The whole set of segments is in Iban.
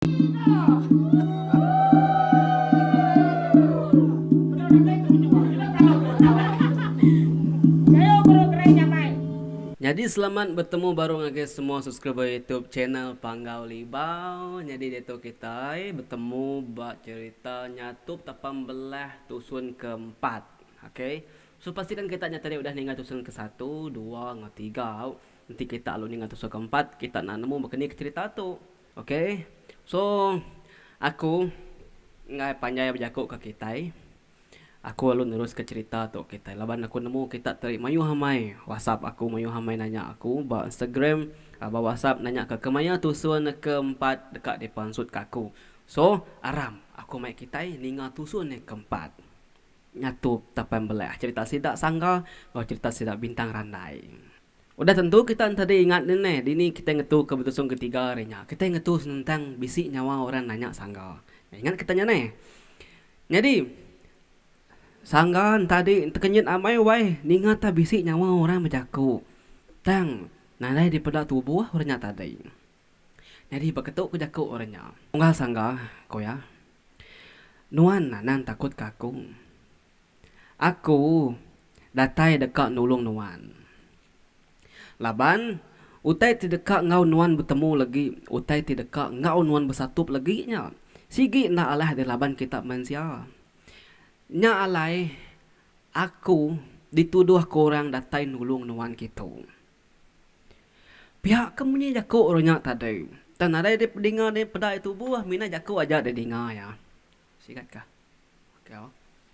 Nyadi selamat betemu baru ngagai semua subscriber youtube channel Panggau Libau. Nyadi diatu kitai betemu ba cerita nyatup tapa mbelah tusun ke empat. Ok. So pastikan kita nya tadi udah ninga tusun ke satu, dua enggau tiga. Enti kita alu ninga tusun ke empat kita enda nemu baka ni ke cerita tu. Ok so aku enggai panjai bejaku ke kitai aku lalu nerus ke cerita tu kitai laban aku nemu kita tadi mayuh amai whatsapp aku mayuh amai nanya aku ba instagram ba whatsapp nanya ke kemaya tusun ke empat deka dipansut ke aku so aram aku mai kitai ninga tusun ne ke empat ngatu tapan beleh cerita sida sangga enggau cerita sida bintang randai. Udah tentu kita entadi ingat nih neh dini kita ngetu ke betusung ke tiga hari nya. Kita ngetu senentang bisi nyawa orang nanya sangga. Ingat kita nya neh. Nyadi sangga entadi tekenyit amai wai ninga ta bisi nyawa orang bejaku tang nadai dipeda tubuh orang nya tadi. Nyadi baka tu ku jaku orang nya. Unggal sangga, ku iya, nuan anang takut ke aku. Aku datai deka nulung nuan. Laban, utai ti deka enggau nuan betemu legi, utai ti deka enggau nuan besatup legi nya, sigi enda alah deh laban kita mensia. Nya alai aku dituduh ke orang datai nulung nuan kitu. Pia ke munyi jaku orang nya tadi. Tang nadai dipedinga dipeda agi tubuh, mina jaku aja didinga iya. Sigat kah? Okay au.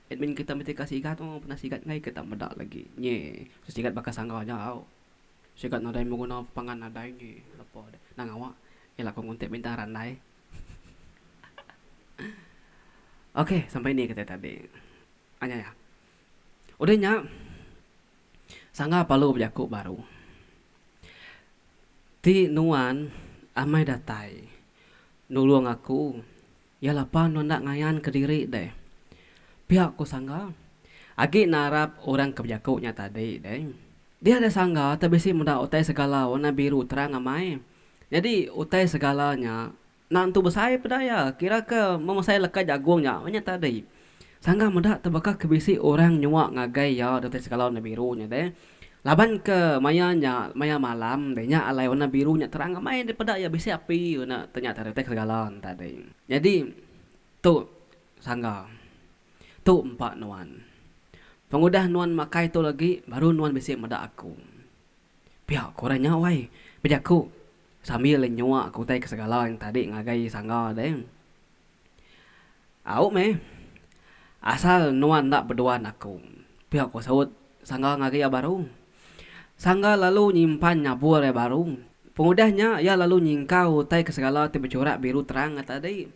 Admin kita mesti ka sigat au, pernah sigat enggai ke tak meda lagi nyi. Mesti sigat baka sangga aja au. Sigat nadai beguna pangan nadai nyi lepa deh. Nah ngawa ila aku nguntit bintang randai. Okay sampai ni kitai tadi. Anya ya. Udah nya sangga palu bejaku baru. Ti nuan amai datai nulung aku Iya lapa nuan enda ngayan ke diri deh. Pia ku sangga. Agi narap orang ke bejaku nya tadi deh. Dia deh sangga te bisi meda utai segala warna biru terang amai. Nyadi utai segala nya enda entu besai peda iya kira ke memesai leka jagung nya nya tadi. Sangga meda tu baka ke bisi orang nyuak ngagai iya datai sekala warna biru nya deh. Laban ke maya nya maya malam deh nya alai warna biru nya terang amai deh peda iya bisi api guna te nya tadi datai ke segala enta deh. Nyadi tu sangga tu empa nuan. Pengudah nuan makai tu lagi baru nuan bisi meda aku. Pia ku orang nya wai bejaku sambil nyuak ke utai ke segala enta di ngagai sangga deh. Au meh. Asal nuan enda beduan aku, pia ku saut Sangga ngagai iya baru. Sangga lalu nyimpan nyabur iya baru. Pengudah nya iya lalu nyingkau utai ke segala ti bechurak biru terang nya tadi.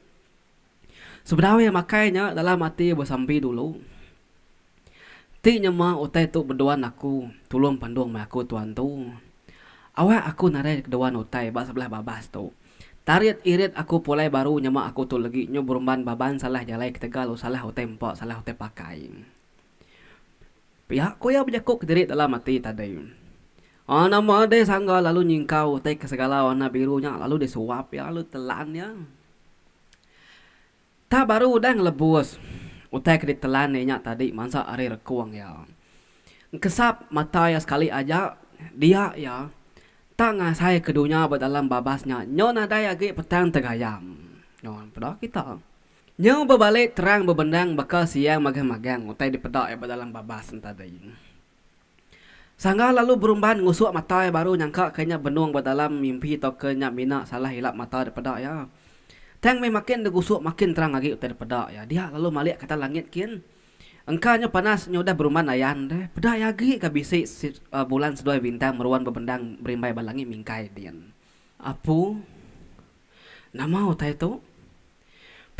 Sebedau iya makai nya dalam ati besambi dulu. Ti nyema utai tu beduan aku tulung pandung meh aku tuan tu. Awak aku nadai keduan utai ba sebelah babas tu. Tarit irit aku pulai baru nyema aku tu legi nyu berumban baban salah jalai ketegal u salah utai empa salah utai pakai. Pia ku iya bejaku kediri dalam ati tadi. Ana madai sangga lalu nyingkau utai ke segala warna biru nya lalu disuap iya lalu telan iya. Tah baru udah ngelebus utai ke ditelan inya tadi mansa ari rekung iya. Engkesap mata iya sekali aja, dia iya tah ngasai ke dunya ba dalam babas nya nyau nadai agi petang tegayam. Nuan peda kita. Nyau bebali terang bebendang baka siang magang-magang utai dipeda iya ba dalam babas nya tadi. Sangga lalu berumban ngusuk mata iya baru nyangka ke nya benung ba dalam mimpi tauka nya mina salah ilap mata dipeda iya. Tang meh makin degusuk makin terang agi utai dipeda iya. Dia lalu malik ke atas langit kin. Engka nyu panas nya udah berumban ayan deh. Peda iya agi ka bisi bulan seduai bintang meruan bebendang berimbai ba langit mingkai din. Apu, nama utai tu?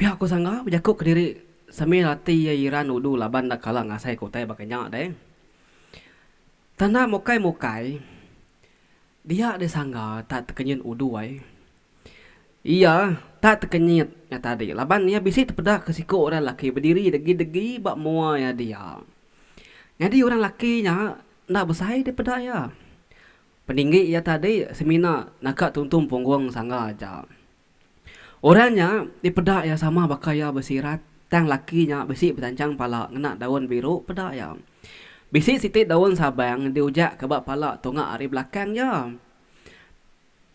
Pia ku Sangga bejaku kediri sambil ati iya iran udu laban enda kala ngasai ke utai baka nya deh. Tanda mukai mukai dia deh Sangga tak tekenyit udu ai. Iya tak tekenyit nya tadi laban iya bisi tepeda ke siku orang laki bediri degi degi ba mua iya dia. Nyadi orang laki nya enda besai deh peda iya. Peninggi iya tadi semina naka tuntung punggung Sangga aja. Orang nya dipeda iya sama baka iya besirat, tang laki nya bisi betanchang pala ngena daun biru peda iya. Bisi siti daun sabang diujakka ba pala tunga ari belakang iya.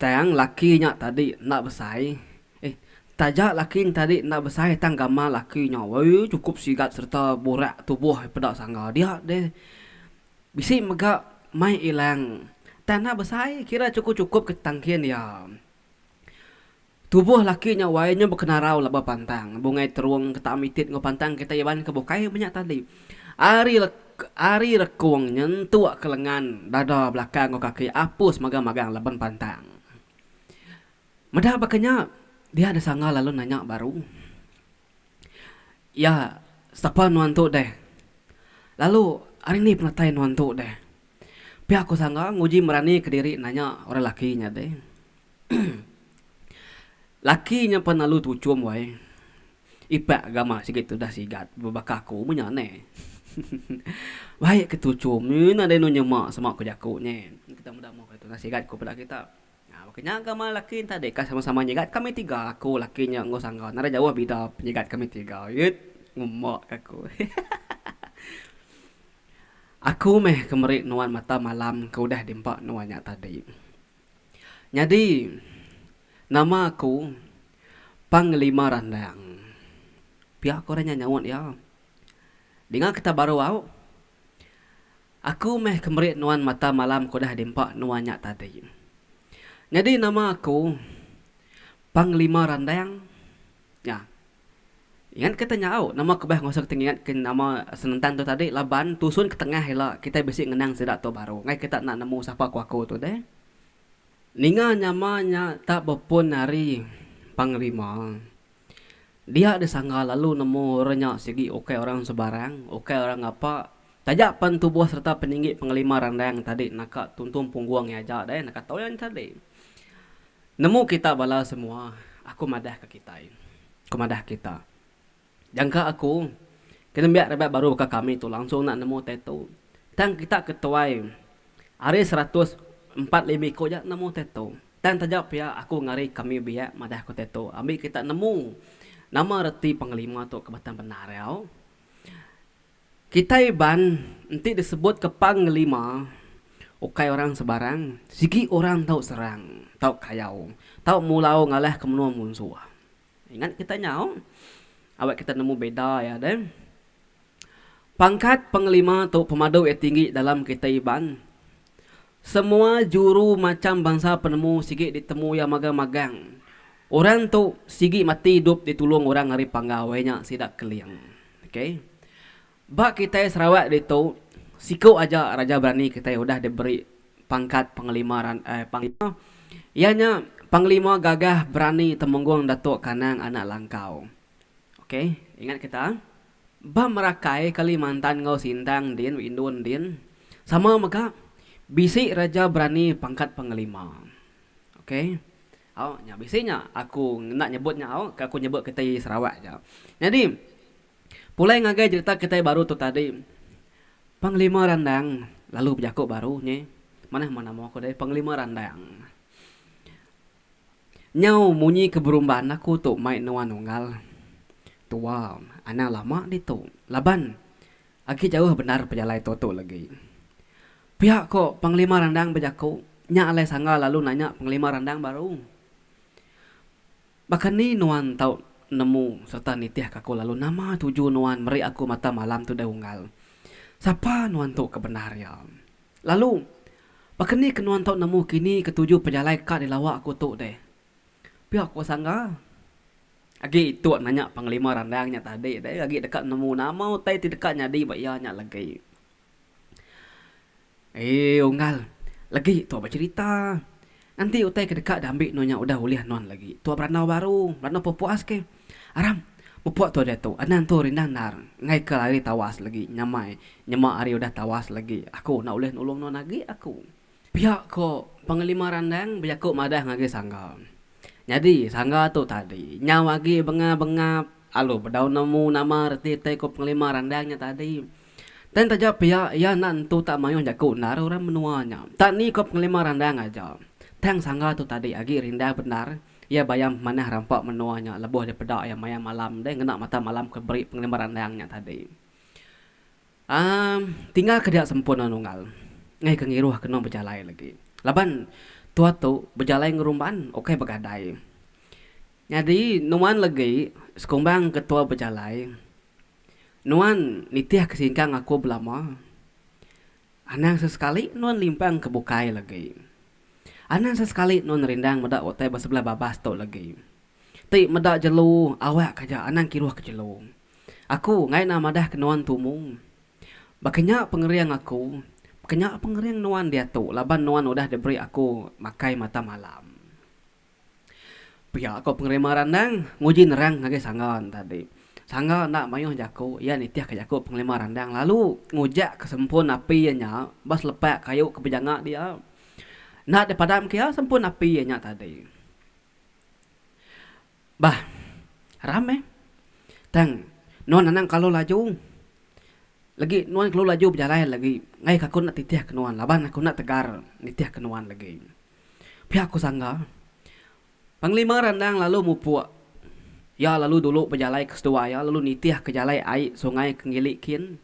Tang laki nya tadi enda besai eh taja laki nya tadi enda besai tang gamal laki nya woi chukup sigat sereta burak tubuh iya peda sangga dia deh. Bisi mega mai ilang tang enda besai kira chukup-chukup ke tangkin iya. Tubuh laki nya wai nya bekenarau laban pantang, bungai terung ke taam itit enggau pantang kitai iban ke bukai menya tadi. Ari ari rekung nyentuk ke lengan dada belakang enggau kaki apus magang-magang laban pantang. Meda baka nya, dia disanga lalu nanya baru. Iya, sapa nuan tu deh? Lalu, ari nih penatai nuan tu deh? Pia ku Sangga nguji merani ke diri nanya orang laki nya deh. laki nya pen lalu tuchum wai. Ipak gamak sigi tudah sigat bebaka aku meh nya neh. Baik ke tuchum, nadai enu nyema sema ku jaku nye. Kita meda meh tudah sigat ku bala kita. Nya, baka nya gamal laki enta deka sama-sama nyegat kami tiga, aku, laki nya enggau sangga nadai jauh bida penyegat kami tiga. Iyit, ngumbak ka aku. Aku meh ke meri nuan mata malam ke udah diempa nuan nya tadi. Nyadi, nama aku Panglima Randang. Pia ko orang nya nyaut iya. Dinga kita baru au. Aku meh ke meri nuan mata malam ke udah diempa nuan nya tadi. Nyadi nama aku Panglima Randang nya. Ingat kita nya au, nama aku bah ngasuh kita ngingat ke nama senentang tu tadi laban tusun ke tengah ila kita bisi ngenang sida tu baru nggai kita enda nemu sapa ku aku tu deh. Ninga nyama nya tak bepun ari Panglima. Dia disangga lalu nemu orang nya sigi ukai orang sebarang, ukai orang ngapa. Taja pen tubuh sereta peninggi pengelima randang tadi naka tuntung punggung iya aja deh naka tau iya nyadi. Nemu kita bala semua, aku madah ka kitai. Aku madah kita. Jangka aku, ke nembiak rabat baru baka kami tu langsung enda nemu tattoo. Tang kita ke tuai ari seratus empat lima iku aja nemu tattoo. Tang taja pia aku ngari kami biak madah ku Teto ambi kita nemu nama reti pengelima tu ke batang bendar iya. Kitai Iban enti disebut ke pengelima ukai orang sebarang sigi orang tau serang, tau kayau, tau mulau ngalah ke menua munsuh. Ingat kita nyau awak kita nemu beda iya deh. Pangkat pengelima tu pemadu iya tinggi dalam kitai Iban. Semua juru macham bansa penemu sigi ditemu iya magang-magang. Orang tu sigi mati idup ditulung orang ari Panggau iya nya sida Keling. Ok. Ba kitai Sarawak ditu siku aja Raja Berani kitai udah diberi pangkat Panglima Panglima iya nya Panglima Gagah Berani Temenggung Datuk Kanang Anak Langkau. Ok. Ingat kita. Ba merakai Kalimantan enggau Sintang din weh indun din sama mega bisi raja berani pangkat pengelima ok au nya bisi nya aku enda nyebut nya au ke aku nyebut kitai Sarawak aja nyadi pulai ngagai jerita kitai baru tu tadi pengelima randang lalu bejaku baru nyi manah nama ko deh pengelima randang. Nyau munyi ke berumban aku tu mai nuan unggal. Tua, anang lama ditu laban agi jauh bendar pejalai tu tu legi. Pia ko pengelima randang bejaku nya alai sangga lalu nanya pengelima randang baru. Baka ni nuan tau nemu serta nitih ka aku lalu nama tuju nuan meri aku mata malam tu deh unggal. Sapa nuan tu ke bendar iya. Lalu, baka ni ke nuan tau nemu kini ketuju pejalai ka dilawa aku tu deh? Pia ku Sangga. Agi itu nanya pengelima randang nya tadi deh, agi deka nemu nama utai ti deka nyadi ba iya nya legi. Ee, unggal legi tu becerita Enti utai ke deka diambi nuan nya udah ulih nuan lagi, tua berandau baru, berandau pepuas ke. Aram, mepuk tua diatu, Anang tu rindang endar, enggaika ari tawas lagi nyamai, nyema ari udah tawas lagi, aku enda ulih nulung nuan agi aku. Pia ko Panglima Randang bejaku madah ngagai Sangga. Nyadi, Sangga tu tadi, nyau agi bengap-bengap, alu bedau nemu nama reti utai ko Panglima Randang nya tadi. Tang taja pia, iya enda nentu tak mayuh jaku endar orang menua nya. Tak ni ko pengelima randang aja. Tang sangga tu tadi agi rindang bendar iya bayam manah rampa menua nya lebuh dipeda iya maya malam deh ngena mata malam ke beri pengelima randang nya tadi. Amm tinggal ke dia sempurna nunggal ngeh ke ngiruh kenu bejalai lagi. Laban tua tu bejalai ngerumban ukai begadai. Nyadi nuan legi sekumbang ke tua bejalai Nuan nitih ke singkang aku belama. Anang sesekali nuan limpang ke bukai lagi. Anang sesekali nuan rindang meda utai ba sebelah babas tu lagi. Ti meda jelu awak ka aja anang kiruh ke jelu. Aku ngai enda madah ke nuan tumu. Baka nya pengering aku, baka nya pengering nuan diatu laban nuan udah diberi aku makai mata malam. Pia ko pengerema randang nguji nerang ngagai sangga tadi. Sangga enda mayuh jaku iya nitih ka jaku pengerema randang lalu ngujak ka sempun api iya nya ba selepa kayu ke bejanga dia. Enda di padam ke iya sempun api iya nya tadi. Bah ram meh tang nuan anang kelalu laju legi nuan kelalu laju bejalai legi ngaih ka aku enda titih ka nuan laban aku enda tegar nitih ka nuan legi. Pia ku Sangga. Panglima Randang lalu mupuk. Iya lalu dulu bejalai ke seduai iya lalu nitih ke jalai ai sungai ke ngili kin.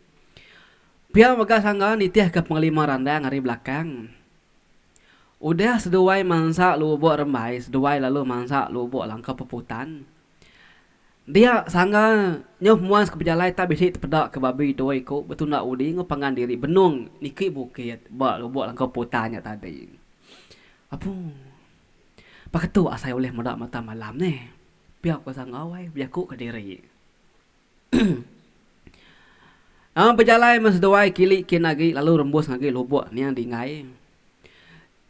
Pia mega Sangga nitih ke Panglima Randang ari belakang. Udah seduai mansa lubuk rembai seduai lalu mansa lubuk langkau peputan. Dia sangga nyauh muan sekepejalai tak bisi tepeda ke babi dua iku betunda udi enggau pangan diri benung niki bukit ba lubok langkau putan nya tadi. Apu. Baka tu asai ulih meda mata malam neh. Pia ku sangga wai bejaku kediri. Nama bejalai meh seduai kili kin agi lalu rembus ngagai lubok niang dingai.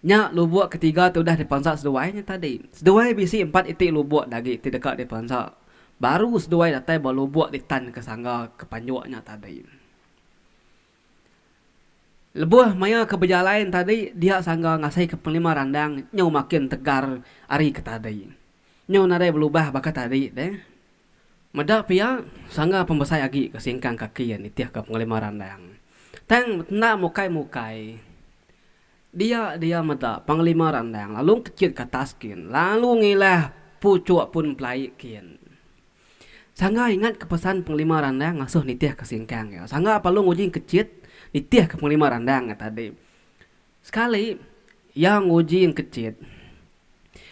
Nya lubuk ketiga ti udah dipansa seduai nya tadi. Seduai bisi empat iti lubuk dagi ti deka dipansa baru seduai datai ba lubuk ditan ke sangga ke panjuk nya tadi. Lebuh maya ke bejalai nya tadi dia sangga ngasika pengelima randang nyau makin tegar ari ke tadi. Nyau nadai belubah baka tadi deh. Meda pia sangga pembesai agi ke singkang kaki iya nitihka pengelima randang tang enda mukai-mukai. Dia dia meda Panglima Randang lalu kechit ke atas kin lalu ngilah puchuk pun pelai kin. Sangga ingat ke pesan Panglima Randang ngasuh nitih ke singkang iya. Sangga Palung nguji kechit nitih ke Panglima Randang iya tadi. Sekali iya nguji kechit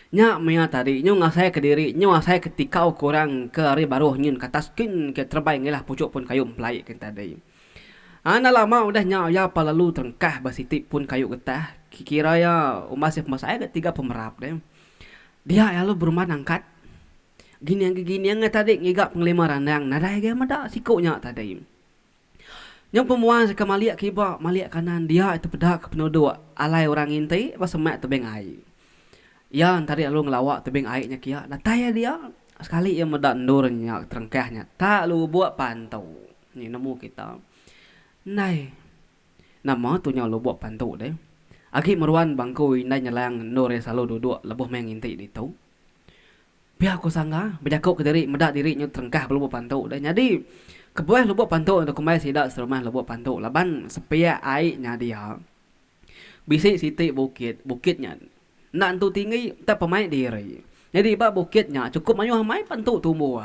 nya maya tadi nyu ngasai ke diri nyu asai ke tikau ke orang ke ari baruh nyin ke atas kin ke terebai ngilah puchuk pun kayu empelai kin tadi. Enda lama udah nya iya pa lalu terengkah ba siti pun kayu getah ke kira iya umbas iya pemasae ga tiga pemerap deh. Dia lalu beruman angkat gining ke gining ngai tadi ngiga pengelima randang nadai ga meda siku nya tadi. Nyau pemua seka malik ke iba malik ke kanan dia ti peda ke penuduk alai orang nginti ba semak tebing ai. Iya enta dih lalu ngelawa tebing ai nya kiya datai iya dia sekali iya meda endur nya terengkah nya tak lubuk pantu. Ni nemu kita. Ndai. Nama tu nyau lubok pantu deh. Agi meruan bangku indai nyelang endur iya selalu duduk lebuh meh nginti ditu. Pia ku Sangga bejaku ke diri meda diri nyau terengkah ba lubok pantu deh. Nyadi kebuah lubok pantu ento kembai sida serumah lubok pantu laban sepiak ai nyadi iya bisi siti bukit, bukit nya Enda entu tinggi tang pemaik diri. Nyadi ba bukit nya chukup mayuh amai pan tu tumbuh.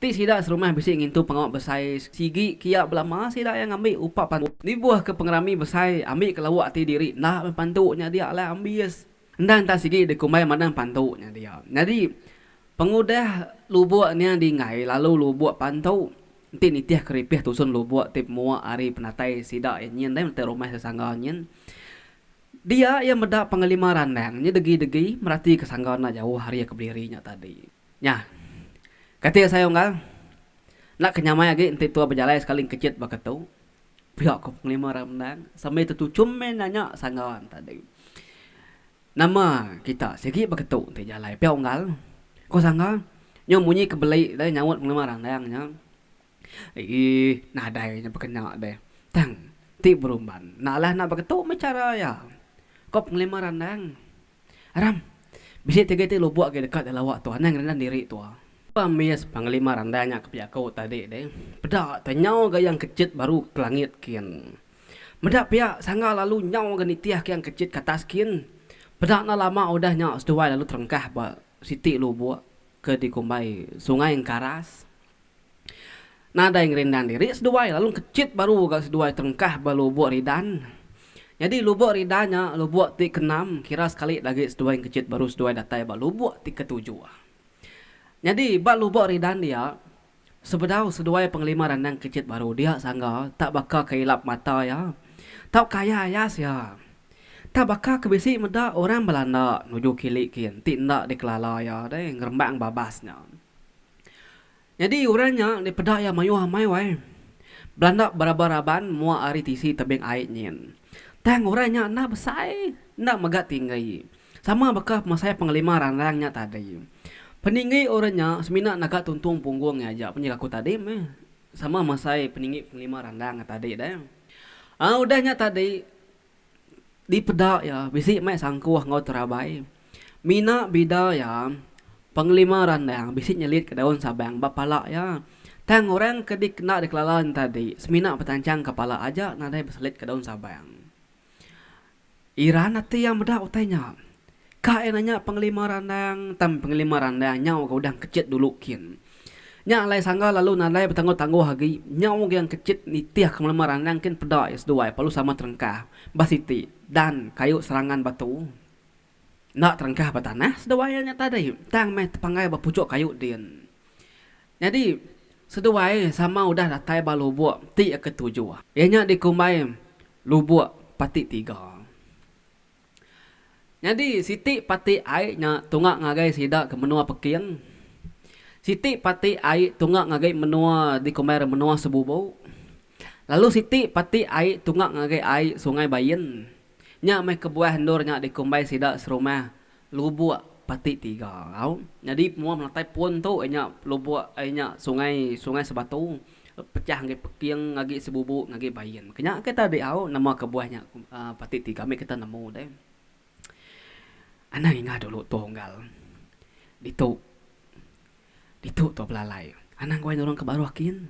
Ti sida serumah bisi ngintu pengawa besai sigi kia belama sida iya ngambi upa pan tu. Nibuh ke pengerami besai ambi ke lawa ati diri enda meh pan tu nya dia alai ambis. Endang tang sigi dikumbai mandang pan tu nya dia. Nyadi pengudah lubuk nya di enggai lalu lubuk pan tu enti nitih keripih tusun lubuk ti pemua ari penatai sida iya nyin deh menyertai rumah sesangga nyin. Dia iya meda pengelima randang nya degi-degi meratika sangga enda jauh ari iya ke bediri nya tadi. Nya. Kati Asai Unggal, Enda ke nyamai agi enti tua bejalai sekali engkechit baka tu. Pia ku pengelima randang sambil tetuchum meh nanya sangga tadi. Nama kita sigi baka tu enti jalai pia Unggal? Ku sangga. Nyau munyi ke beli deh nyaut pengelima randang nya. Eeh nadai nya bekena deh. Tang ti berumban enda alah enda beketu meh chara iya. Ko pengelima randang. Ram, bisi ti agi ti lubok agi deka dilawa tu anang ngerenan diri tu. Pamis pengelima randang nya ke pia aku tadi deh. Peda teh nyau ga Yang Kechit baru ke langit kin. Meda pia sangga lalu nyau ga nitih ke Yang Kechit ke atas kin. Peda enda lama udah nya seduai lalu terengkah ba siti lubok ke dikumbai Sungai Engkaras. Nadai ngerindan diri seduai lalu kechit baru ga seduai terengkah ba lubok ridan. Nyadi lubok ridan nya lubok ti keenam kira sekali agi seduai engkechit baru seduai datai ba lubok ti ketujuh. Nyadi ba lubok ridan dia sebedau seduai pengelima randang engkechit baru dia sangga tak baka ke ilap mata iya tau kaya ayas iya. Tak baka ke bisi meda orang Belanda nuju kili kin ti enda dikelala iya deh ngerembang babas nya. Nyadi orang nya enda peda iya mayuh amai wai. Belanda beraban raban mua ari tisi tebing ai nyin. Tang orang nya enda besai, enda mega tinggi. Sama baka pemasai pengelima ranrang nya tadi. Peninggi orang nya semina naga tuntung punggung iya aja penjara aku tadi meh. Sama masai peninggi pengelima ranrang tadi deh. Aa udah nya tadi. Dipeda iya, bisi mai sangkuh enggau terabai. Mina bida iya, pengelima randang bisi nyelitka daun sabang ba pala iya. Tang orang ke dikena dikelala nyentadi semina betancang ke pala aja nadai beselitka daun sabang. Iran ati iya meda utai nya. Ka ena nya pengelima randang tang pengelima randang nyau ga udah engkechit dulu kin. Nya alai sangga lalu nadai betangguh-tangguh agi, nyau ga engkechit nitih kemelema randang kin peda iya seduai perlu sama terengkah ba siti dan kayu serangan batu enda terengkah ba tanah seduai iya nya tadi tang meh tepanggai ba puchuk kayu din. Nyadi seduai sama udah datai ba lubuk ti ketujuh iya nya dikumbai lubuk pati tiga. Nyadi siti pati ai nya tunga ngagai sida ke menua Peking. Siti pati ai tunga ngagai menua dikumbai orang menua Sebubu. Lalu siti pati ai tunga ngagai ai Sungai Bain. Nya meh kebuah endur nya dikumbai sida serumah Lubok Pati Tiga. Au, nyadi penguam menatai pun tu ai nya lubok ai nya sungai, Sungai Sebatu. Pecah ngagai peking agi sebubu ngagai bain. Kenya ke ta diau nama kebuah nya pati ti kami kita nemu deh. Anang inga dulu tua unggal ditu ditu tua belalai anang gawa nurung ke baruh kin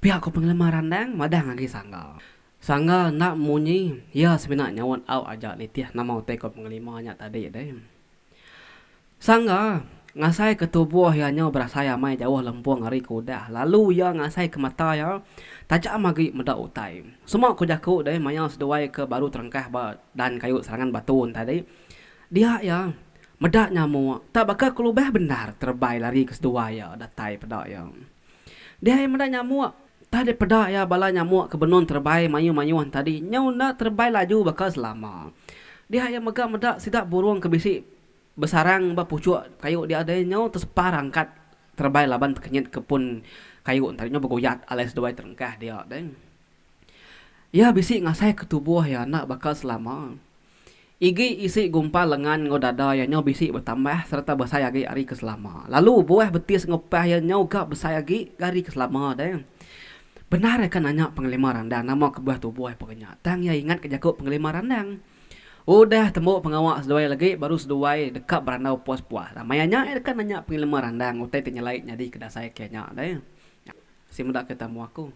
pia ko pengelema randang madah ngagai sangga. Sangga enda munyi iya semina nyaut au aja nitih nama utai ko pengelema nya tadi deh. Sangga, ngasaika tubuh iya nyau berasai amai jauh lempung ari ke udah lalu iya ngasaika mata iya tajam agi meda utai. Semua ku jaku deh maya seduai ke baru terengkah ba dan kayu serangan batu entai deh. Dia iya meda nyamuk tak baka kelubah bendar terebai lari ke seduai iya datai peda iya. Dia iya meda nyamuk entah deh peda iya bala nyamuk ke benung terebai mayuh-mayuh enta dih nyau enda terebai laju baka selama. Dia iya mega meda sida burung ke bisi Besarang ba puchuk kayu dia deh nyau tesepar rangkat terebai laban tekenyit ke pun kayu ntari nyau begoyak alai seduai terengkah dia deh. Iya bisi ngasai ke tubuh iya enda baka selama. Igi isi gumpal lengan enggau dada iya nyau bisi betambah sereta besai agi ari ke selama. Lalu buah betis enggau pah iya nyau ga besai agi ari ke selama deh. Bendar iya ka nanya pengelima randang nama kebuah tubuh iya pengenya tang iya ingat ka jaku pengelima randang. Udah tembu pengawa seduai legi baru seduai deka berandau puas-puas. Maya nya iya deka nanya pengilema randang utai ti nyelai nyadi ke dasai ke nya deh. Nya si meda kita mua aku.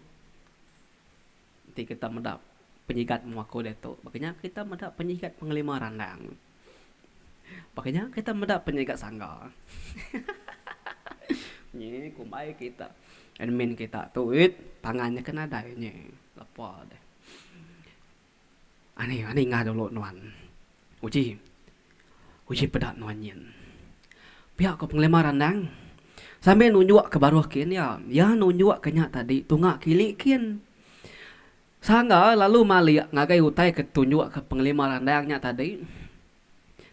Enti kita meda penyigat mua aku diatu baka nya kita meda penyigat pengelima randang. Baka nya kita meda penyigat sangga. Nyi kumbai kita admin kita tu wit pangan nya ke nadai nyi lepa deh. Ani ani ngah dulu nuan. Uji uji peda nuan nyin. Pia ko pengelima randang sambil nunjuk ke baruh kin iya. Iya nunjuk ke nya tadi tunga kili kin. Sangga lalu malik ngagai utai ke tunjuk ke pengelima randang nya tadi.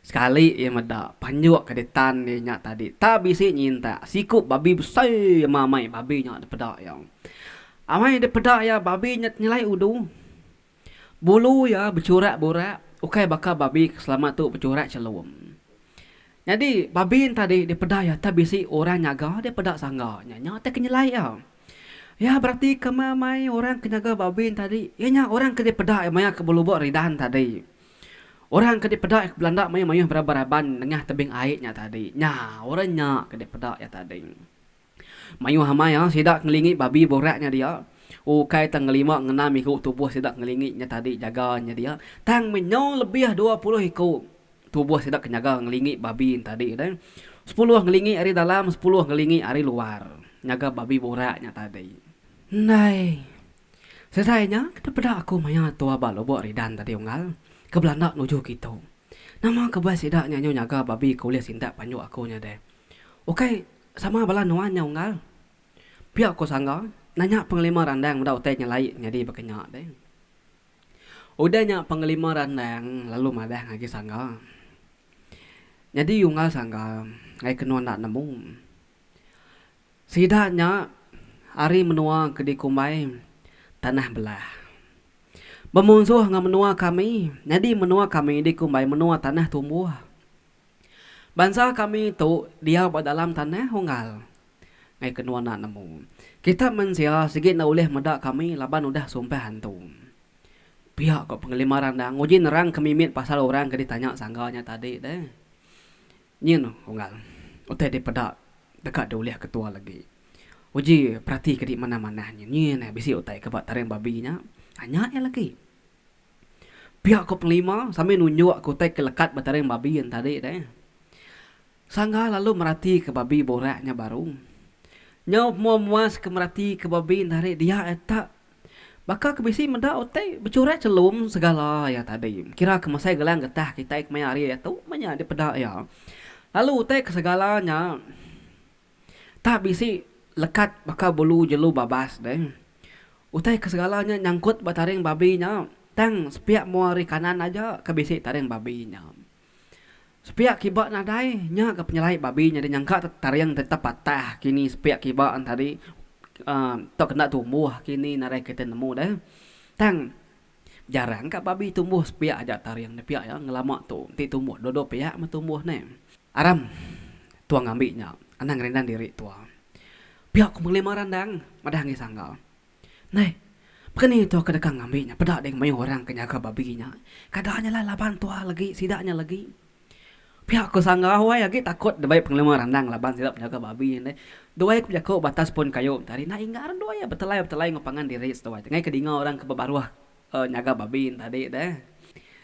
Sekali iya meda, panjuk ke ditan iya nya tadi tak bisi nyintak siku babi besai ama amai babi nya dipeda iya. Amai dipeda iya babi nya nyelai udu. Bulu iya bechurak-burak ukai baka babi ke selama tu bechurak chelum. Nyadi babi nya tadi dipeda iya tak bisi orang nyaga dia peda sangga nya nya ti ke nyelai iya. Iya beratika ama amai orang ke nyaga babi nya tadi iya nya orang ke dipeda iya maya ke belubok ridan tadi. Orang ke dipeda ke belanda maya mayuh beraban raban nengah tebing ai nya tadi. Nya orang nya ke dipeda iya tadi. Mayuh amai iya sida ke ngelingi babi borak nya dia ukai tang ngelima ngenam iku tubuh sida ngelingi nya tadi jaga nya dia tang menyau lebih dua puluh iku tubuh sida ke nyaga ngelingi babi nya tadi deh. Sepuluh ngelingi ari dalam sepuluh ngelingi ari luar nyaga babi borak nya tadi. Ndai Serai nya kita peda aku maya tua ba Lubok Ridan tadi unggal ke belanda nuju kitu. Nama kebuah sida nya nyu nyaga babi ke ulih sindap panjuk aku nya deh. Ukai sama bala nuan nya unggal? Pia ku Sangga nanya pengelima randang meda utai nyelai nyadi baka nya deh. Udah nya pengelima randang lalu madah ngagai Sangga. Nyadi unggal Sangga ngagai kenu enda nemu. Sida nya ari menua ke dikumbai Tanah Belah. Bemunsuh enggau menua kami, nyadi menua kami dikumbai menua Tanah Tumbuh. Bansa kami tu diau ba dalam tanah unggal enggau ke nuan enda nemu. Kita mensia sigi enda ulih meda kami laban udah sumpah antu. Pia ko pengelima randang uji nerang ke mimit pasal orang ke ditanya sangga nya tadi deh. Nyin unggal utai dipeda deka diulih ketua legi. Uji perati ke dimanah-manah nyin, nyin eh bisi utai ke ba taring babi nya. Anya iya legi. Pia ko pengelima sambil nunjuk ke utai ke lekat ba taring babi yen tadi deh. Sangga lalu merati ke babi borak nya baru. Nyau pemua muas ke merati ke babi yen tadi dia eh tak Baka ke bisi meda utai bechurai chelum segala iya tadi. Kira ke mesai gelang getah kitai kemaya hari iya tu meh nya dipeda iya. Lalu utai ke segala nya tah bisi lekat baka bulu jelu babas deh. Utai ke segala nya nyangkut ba taring babi nya tang sepiak mua ari kanan aja ke bisi taring babi nya. Sepiak kiba nadai nya ga penyelai babi nyadi nyangka taring ti tepatah kini sepiak kiba tadi tau ke enda tumbuh kini nadai kita nemu deh tang jarang ka babi tumbuh sepiak aja taring nya piak ngelama tu ti tumbuh dua dua piak meh tumbuh neh aram tuang ngambi nya anang ngerindang diri tuah piak ku melima randang madah ngi sangga. Neh, pekeni tu ke deka ngambi nya peda ding mayuh orang ke nyaga babi nya. Kada nya alai laban tuah legi, sida nya legi. Pia ku Sangga Huai agi takut ndai pengelama randang laban sida penyaga babi nya deh. Duai ku bejaku ba atas pun kayu enti hari nya ingar duai iya betelai-betelai enggau pangan diri seduai ti ngai ke dinga orang ke bebaruh uhh nyaga babi nya tadi deh.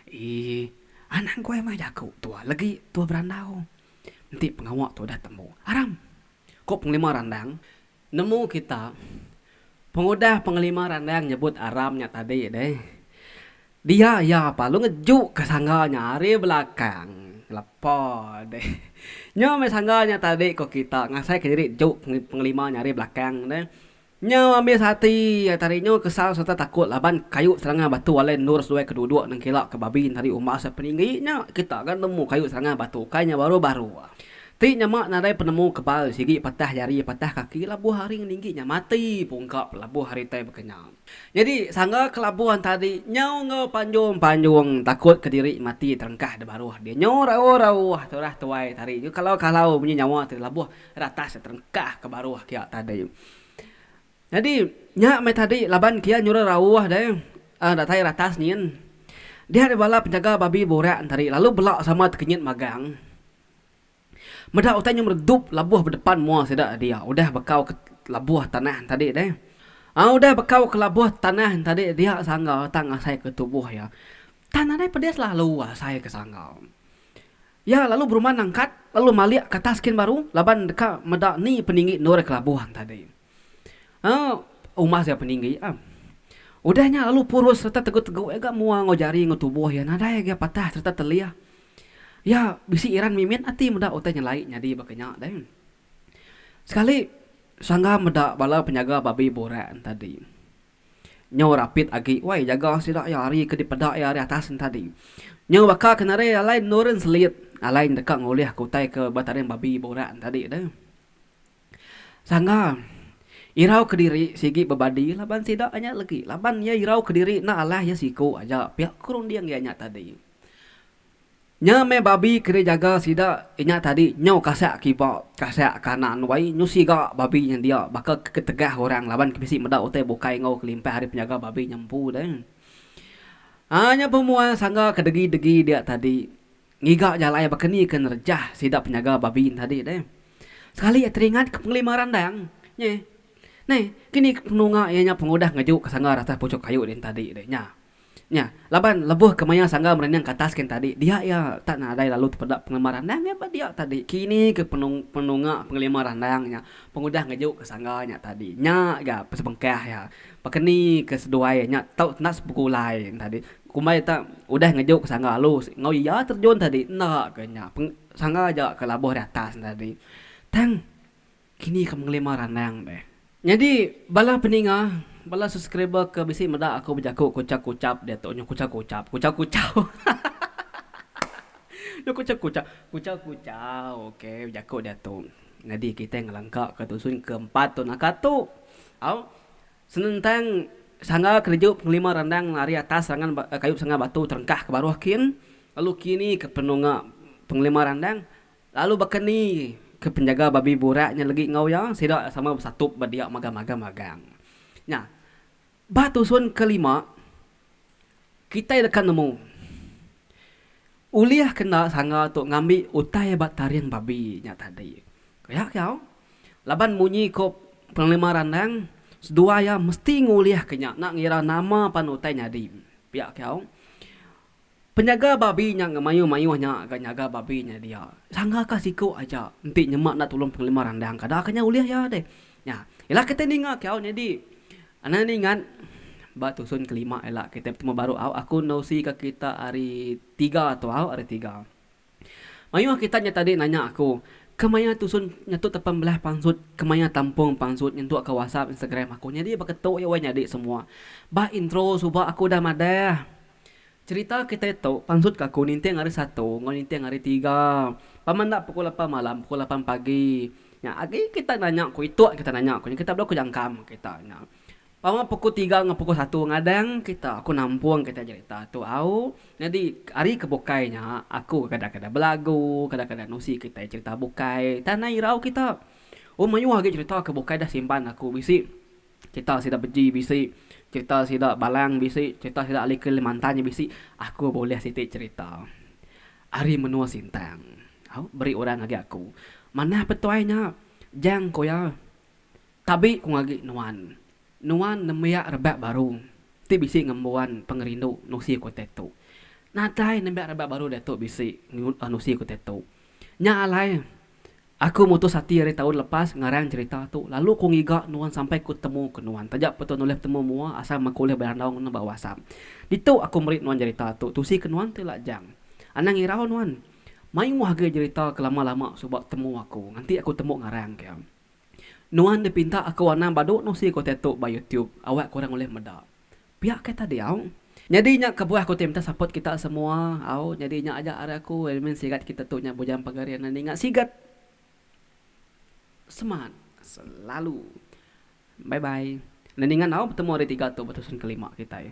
Eee. Anang Huai meh jaku tuah legi tuah berandau. Enti pengawa tu udah tembu. Aram! Ku pengelima randang. Nemu kita, pengudah pengelima randang nyebut aram nya tadi deh. Dia iya palu ngejuka sangga nya ari belakang lepa deh. Nya meh sangga nya tadi ko kita ngasaika diri juk pengelima nya ari belakang deh. Nya ambi sati iya tadi nyu kesal sereta takut laban kayu serangga batu alai endur seduai ke duduk nengkila ke babi enti ari umbas penyinggi nya kita ga nemu kayu serangga batu kai nya baru-baru. Ti nyama nadai penemu kebal sigi patah jari patah kaki labuh hari ngelinggi nya mati pungka pelabuh hari tai bekenyang. Nyadi sangga kelabuh enta adi nyau enggau panjung-panjung takut kediri mati terengkah debaruh dia nyau rauh-rauh turah tuai tadi nyau kalau-kalau munyi nyawa ti labuh ratas ti terengkah ke baruh kia tadi. Nyadi nya meh tadi laban kia nyuruh rauh deh datai ratas nyin dia ari bala penjaga babi burak tadi lalu bela sama tekenyit magang Meda utai nyum redup labuh bedepan mua sida dia udah bekau ke labuh tanah tadi deh. Au udah bekau ke labuh tanah tadi dia sangga tang asai ke tubuh iya. Tang nadai pedis lalu asai ke sangga. Iya lalu beruman nangkat lalu malik ke atas kin baru laban deka meda ni peninggi endur ke labuh tadi. Aa umah sia peninggi am. Udah nya lalu purus sereta tegu-tegu iya ga mua enggau jari enggau tubuh iya nadai agi patah sereta telih. Iya bisi iran mimit ati meda utai nyelai nyadi baka nya deh. Sekali sangga meda bala penyaga babi burak entadi nyau rapit agi wai jaga sida iya ari ke dipeda iya ari atas entadi. Nyau baka ke nadai alai nurun selit alai deka ngulih ke utai ke ba tading babi burak entadi deh. Sangga. Irau kediri sigi bebadi laban sida anya legi laban iya irau kediri enda alah iya siku aja pia ke runding iya nya tadi. Nya meh babi ke dijaga sida inya tadi nyau kasak kiba kasak kanan wai nyu siga babi nya dia baka ke ketegah orang laban ke bisi meda utai bukai enggau kelimpah ari penjaga babi nya empu deh. Aa nya pemuai sangga kedegi-degi dia tadi Ngiga jalai baka ni ke nerejah sida penyaga Babin tadi deh. Sekali iya teringat ke pengelima randang nye. Neh, kini ke penunga iya nya pengudah ngeju ke sanggar atas puchuk kayu rin tadi deh nya. Nya, laban lebuh ke maya sanggar merinding ke atas kin tadi, dia iya tak nadai lalu tepeda pengelima randang iya ba dia tadi. Kini ke penung penunga pengelima randang nya pengudah ngeju ke sanggar nya tadi. Nya ga pesebengkah iya. Baka ni ke seduai iya nya tau enda sepegulai rin tadi. Kumbai tak udah ngejuk sangga alus enggau iya terjun tadi enda ke nya sangga aja ke labuh ri atas nya tadi. Tang kini ke mengelima randang deh. Nyadi bala peninga bala subscriber ke bisi meda aku bejaku kuchap kuchap diatu nyu kuchap kuchap kuchap kuchau hahaha nyu kuchap kuchap kuchau kuchau ok bejaku diatu nyadi kitai ngelengka ke dusun ke empat tu naka tu au Senentang sangga kereju pengelima randang ari atas serangan kayu sangga batu terengkah ke baruh kin, lalu kini ke penunga pengelima randang, lalu baka ni ke penjaga babi burak nya legi enggau iya, sida sama besatup ba dia magang-magang. Nya, ba tusun kelima. Kitai deka nemu ulih kena sanga tu ngambi utai ba taring babi nya tadi. Kayak kau laban munyi ko pengelima randang seduai iya mesti ngulih ke nya enda ngira nama pan utai nyadi. Piak kau Penyaga babi nya ngemayuh-mayuh nya ga nyaga babi nya dia. Sangga ka siku aja enti nyema enda tulung pengelima randang ka da ka nya ulih iya deh. Nya ila kitai ninga ke au nyadi anak ningat ba tusun kelima ila kitai betemu baru au aku endosi ka kita hari tiga tu au hari tiga. Mayuh kita nya tadi nanya aku, kemaya tusun nyetuk tepan belah pansut, kemaya tampung pansut nyentuk ka WhatsApp, Instagram aku. Nyadi ba ketu iya weh nyadi semua. Bah intro suba aku udah madah. Cerita kitai tu, pansut ka aku ninting hari satu enggau ninting hari tiga. Pama enda pukul lapan malam, pukul lapan pagi. Nya agi kita nanya ku itu kita nanya ku nya kita bela ku jangkam kita nya. Pama pukul tiga enggau pukul satu ngadang kita aku nampung kita jerita tu au. Nyadi ari ke bukai nya aku ke kadang-kadang belagu, kadang-kadang nusi kitai jerita bukai tanah irau kita. Oh mayuh agi jerita ke bukai dah simpan aku bisi jerita sida beji bisi jerita sida balang bisi jerita sida ali kalimantan nya bisi aku bulih siti jerita ari menua sintang au beri orang ngagai aku. Manah petuai nya jang ku iya. Tabi ku ngagi nuan, nuan nembiak rebak baru ti bisi ngembuan pengerindu nusi ku tetu. Nadai nembiak rebak baru diatu bisi nusi ku tetu. Nya alai, aku mutus ati ari taun lepas ngarang cherita tu lalu ku ngiga nuan sampai ku temu ke nuan taja pun tau nulih betemu mua asal meh ku ulih berandau ngena ba WhatsApp. Ditu aku meri nuan cherita tu tusi ke nuan ti lajang. Anang irau nuan, mayuh agi cherita ke lama-lama suba temu aku nganti aku tembu ngarang ke. Nuan dipinta aku anang badu nusi ku tetu ba YouTube awak kurang ulih meda. Pia ke tadi au. Nyadi nya kebuah aku ti minta support kita semua au nyadi nya aja ari aku admin sigat kita tu nya bujang pagar iya nya ninga sigat semangat selalu bye bye enda ninga enggau betemu hari tiga tu ba tusun kelima kitai.